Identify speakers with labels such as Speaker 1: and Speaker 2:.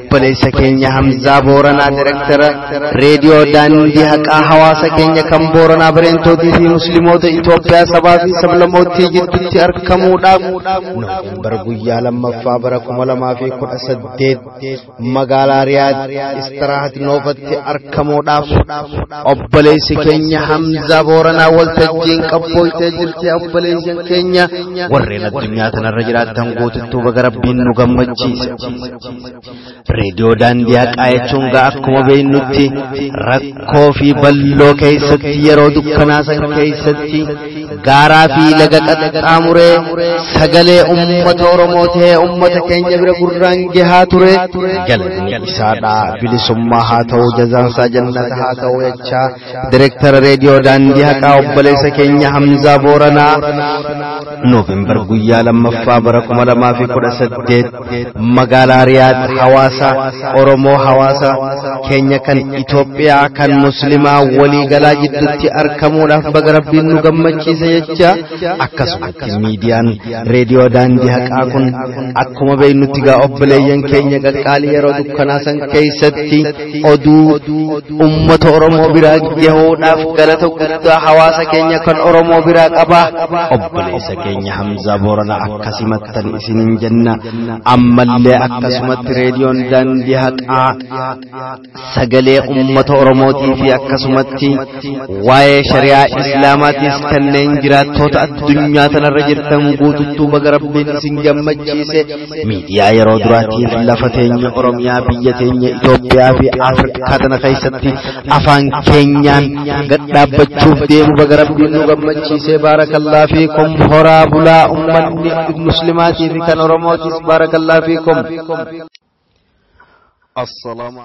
Speaker 1: obboleessa keenya Hamzaa Booranaa Direktara Reediyoo Daandii Haqaa hawaasa keenya kan Booranaa Bareentootii fi Musliimoota Itoophiyaa sabaa fi sablamootii gidduutti argamuudhaaf Noovembar guyyaa lammaffaa bara kuma lamaa fi kudha saddeet magaalaa Riyaad Istirahat Noofatti argamuudhaaf obboleessi keenya Hamzaa Booranaa waltajjiin qabbooytee jirti obboleessi keenya warreen addunyaa tanarra jiraatan guututtuu baga rabbiin nu gammachiise. Reediyoo daandii haqaa jechuun gaa akkuma beeknutti rakkoo fi balloo keessatti yeroo dukkanaasan keessatti gaaraa fi laga qaxxaamuree sagalee uummata Oromoo ta'ee uummata keenya bira gurraan gahaa ture galanni isaadha bilisummaa haa ta'u jazaansaa jannata haa ta'u jechaa direektara reediyoo daandii haqaa obboleessa keenya Hamzaa Booranaa Noovembar guyyaa lammaffaa bara kuma lamaa fi kudha saddeet magaalaa riyaad hawaasa oromoo hawaasa keenya kan itoophiyaa kan muslimaa walii galaa jidduutti argamuudhaaf baga rabbiin nu gammachiise jecha akkasumatti miidiyaan reediyoo daandii haqaa kun akkuma beeknutti gaa obboleeyyan keenya qaqqaalii yeroo dukkanaa san keessatti oduu ummata oromoo biraa gahuudhaaf galata guddaa hawaasa keenya kan oromoo biraa qabaa obboleessa keenya hamzaa boorana akkasimattan isinin jenna ammallee akkasumatti reediyoon daandii haqaa sagalee ummata oromootii fi akkasumatti waa'ee shari'aa islaamaatiis kanneen jiraattoota addunyaa tanarra jirtan guututtuu baga rabbiin isin gammachiise miidiyaa yeroo duraatiif lafa teenya oromiyaa biyya teenya itoophiyaa fi afrikaa tana keessatti afaan keenyaan gad dhaabbachuuf deemu baga rabbiin nu gammachiisee baarakallaa fiikum horaa bulaa ummanni muslimaatii fi kan oromootis baarakallaa fiikum.